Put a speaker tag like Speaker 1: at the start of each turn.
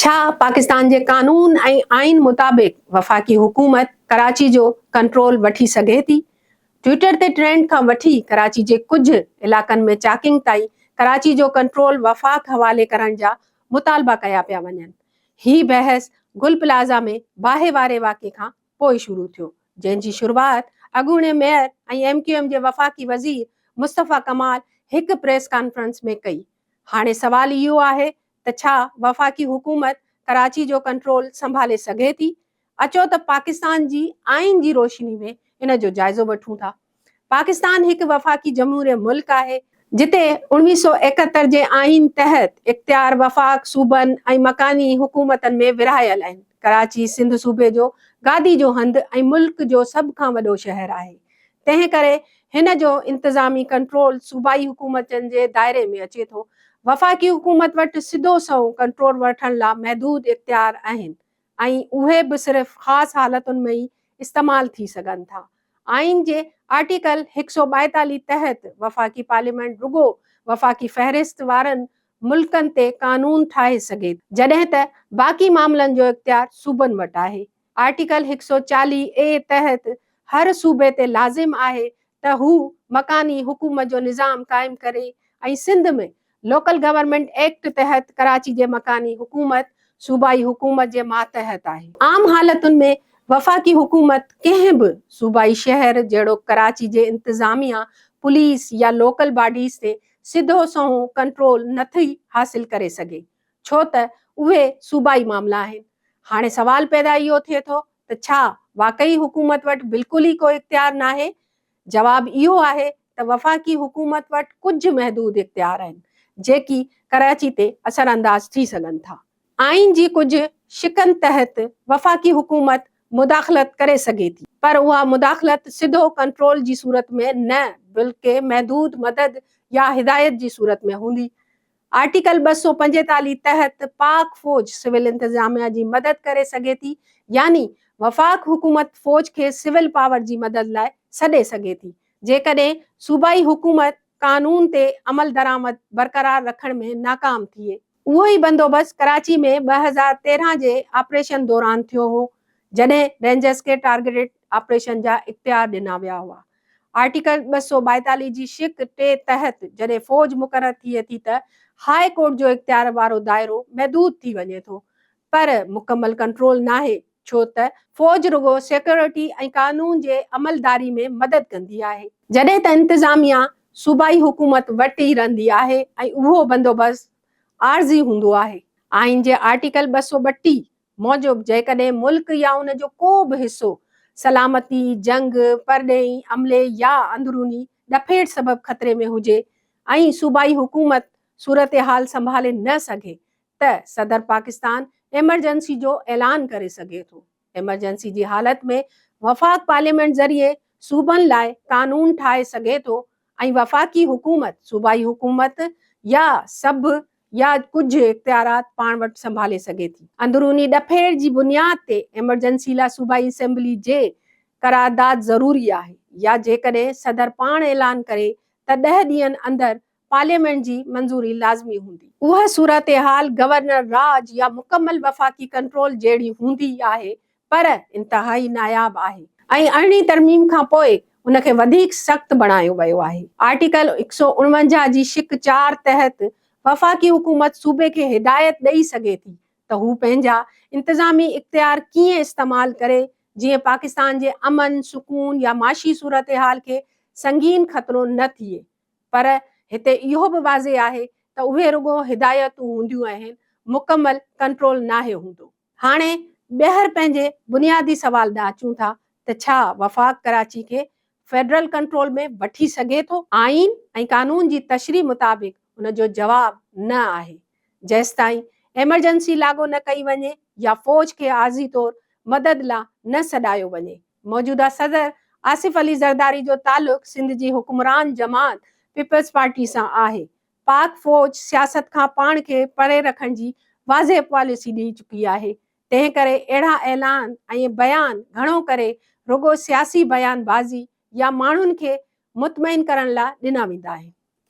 Speaker 1: ڇا پاڪستان جي قانون ۽ آئين مطابق وفاقي حڪومت ڪراچي جو ڪنٽرول وٺي سگهي ٿي؟ ٽوئيٽر تي ٽرينڊ کان وٺي ڪراچي جي ڪجهه علائقن ۾ چاڪنگ تائين ڪراچي جو ڪنٽرول وفاق حوالي ڪرڻ جا مطالبا ڪيا پيا وڃن. هي بحث گل پلازا ۾ باهه واري واقعي کان پوء شروع ٿيو، جنهن جي شروعات اڳوڻي ميئر ۽ ايم ڪيو ايم جي وفاقي وزير مصطفيٰ ڪمال هڪ پريس ڪانفرنس ۾ ڪئي. هاڻي سوال اهو آهي ته ڇا وفاقي حڪومت ڪراچي جو ڪنٽرول سنڀالي سگهي ٿي؟ اچو ته پاڪستان جي آئين جي روشني ۾ ان جو جائزو وٺون ٿا. پاڪستان هڪ وفاقي جمهوريه ملڪ آهي. جتي اوڻويهه سؤ ايڪهتر جي آئين تحت اختيار وفاق، صوبن ۽ مڪاني حڪومتن ۾ ورهايل آهن. ڪراچي سنڌ صوبي جو گادي جو هنڌ ۽ ملڪ جو سڀ کان وڏو شهر آهي. تنهن ڪري هن جو انتظامي ڪنٽرول صوبائي حڪومتن جي دائري ۾ اچي ٿو. وفاقي حڪومت وٽ سڌو سنئون ڪنٽرول وٺڻ لا محدود اختيار آهن ۽ اهي به صرف خاص حالتن ۾ ئي استعمال ٿي سگهن ٿا. آئين جي آرٽيڪل هڪ سؤ ٻائيتاليهه تحت وفاقي پارليامينٽ رڳو وفاقي فهرست وارن ملڪن تي قانون ٺاهي سگهي ٿي. جڏهن ته باقي معاملن جو اختيار صوبن وٽ آهي. آرٽيڪل هڪ سؤ چاليهه اي تحت هر صوبي تي لازم آهي ته هو مڪاني حڪومت جو نظام قائم ڪري ۽ سنڌ ۾ لوڪل گورنمينٽ ايڪٽ تحت ڪراچي جي مڪاني حڪومت صوبائي حڪومت جي ماتحت آهي. عام حالتن ۾ وفاقي حڪومت ڪنهن به صوبائي شهر جهڙوڪ ڪراچي جي انتظاميا، پوليس يا لوڪل باڊيز تي سڌو سنئون ڪنٽرول نٿي حاصل ڪري سگهي. ڇو ته اهي صوبائي معاملا آهن. هاڻي سوال پيدا اهو ٿئي ٿو ته ڇا واقعي حڪومت وٽ بلڪل ئي ڪو اختيار ناهي؟ جواب اهو آهي ته وفاقي حڪومت وٽ ڪجهه محدود اختيار آهن، جيڪي ڪراچي تي اثرانداز ٿي سگهن ٿا. آئين جي ڪجهه شقن تحت وفاقي حڪومت مداخلت ڪري سگهي ٿي، پر اها مداخلت سڌو ڪنٽرول جي صورت ۾ نه بلڪه محدود مدد يا هدايت جي صورت ۾ هوندي. آرٽيڪل ٻه سؤ پنجيتاليهه تحت پاڪ فوج سول انتظاميا جي مدد ڪري سگهي ٿي يعني وفاق حڪومت فوج کي سول پاور جي مدد لاء سڏي سگهي ٿي جيڪڏهن صوبائي حڪومت قانون تي عملدرآمد برقرار رکڻ ۾ ناڪام ٿئي. اهو ئي بندوبست ڪراچي ۾ ٻه هزار تيرهن جي آپريشن دوران ٿيو هو جڏهن رينجرز کي ٽارگيٽيڊ آپريشن جا اختيار ڏنا ويا هئا. آرٽيڪل ٻه سؤ ٻائيتاليهه جي شق ٽي تحت جڏهن فوج مقرر ٿئي ٿي ته هاء ڪورٽ جو اختيار وارو دائرو محدود ٿي وڃي ٿو پر مڪمل ڪنٽرول ناهي ڇو ته فوج رڳو سيڪيورٽي ۽ قانون جي عملداري ۾ مدد ڪندي آهي. جڏهن ته انتظاميا صوبائي حڪومت وٽ ئي رهندي آهي ۽ اهو بندوبست عارضي هوندو آهي. آئين جي آرٽيڪل ٻه سؤ ٻٽيهه موجب جيڪڏهن ملڪ يا ان جو ڪو به حصو سلامتي، جنگ، پرڏيهي عملي يا اندروني ڏڦيڙ سبب خطري ۾ هجي ۽ صوبائي حڪومت صورتحال سنڀالي نه سگهي ته صدر پاڪستان ايمرجنسي جو اعلان ڪري سگهي ٿو. ايمرجنسي جي حالت ۾ وفاق پارليامينٽ ذريعي صوبن لاء قانون ٺاهي سگهي ٿو ۽ وفاقي حڪومت، صوبائي حڪومت يا سڀ يا ڪجهه اختيارات پاڻ وٽ سنڀالي سگهي ٿي. اندروني ڏڦيڙ جي بنياد تي ايمرجنسي لاء صوبائي اسيمبلي جي قرارداد ضروري آهي يا جيڪڏهن صدر پاڻ اعلان ڪري ته ڏهه ڏينهن اندر پارليامينٽ جي منظوري لازمي هوندي. اها صورتحال گورنر راڄ يا مڪمل وفاقي ڪنٽرول جهڙي هوندي آهي پر انتهائي ناياب آهي ۽ ارڙهين ترميم کان پوء ان کي وڌيڪ سخت بڻايو ويو آهي. آرٽيڪل هڪ سؤ اڻونجاهه جي شق چار تحت وفاقي حڪومت صوبي کي هدايت ڏئي سگهي ٿي ته هو پنهنجا انتظامي اختيار ڪيئن استعمال ڪري جيئن پاڪستان جي امن، سڪون يا معاشي صورتحال کي سنگين خطرو نه ٿئي پر هتي اهو به واضح آهي ته اهي رڳو هدايتون هونديون اهن مڪمل ڪنٽرول ناهي هوندو. هاڻي ٻيهر پنهنجي بنيادي سوال ڏانهن اچون ٿا ته ڇا وفاق ڪراچي کي فيڊرل ڪنٽرول ۾ وٺي سگهي ٿو؟ آئين ۽ قانون جي تشريح مطابق ان جو جواب نه آهي. جيستائين ايمرجنسي لاڳو نه ڪئي وڃي يا فوج کي عارضي طور مدد لا نه سڏايو وڃي. موجوده صدر آصف علي زرداري جو تعلق سنڌ جي حڪمران جماعت پيپلز پارٽي سان آهي پاڪ فوج سياست کان پاڻ کي پري رکڻ جي واضح پاليسي ڏئي چڪي آهي، تنهنڪري اهڙا اعلان ۽ بيان گهڻو ڪري رڳو سياسي بيان بازي يا ماڻهن کي مطمئن ڪرڻ لاء ڏنا ويندا آهن.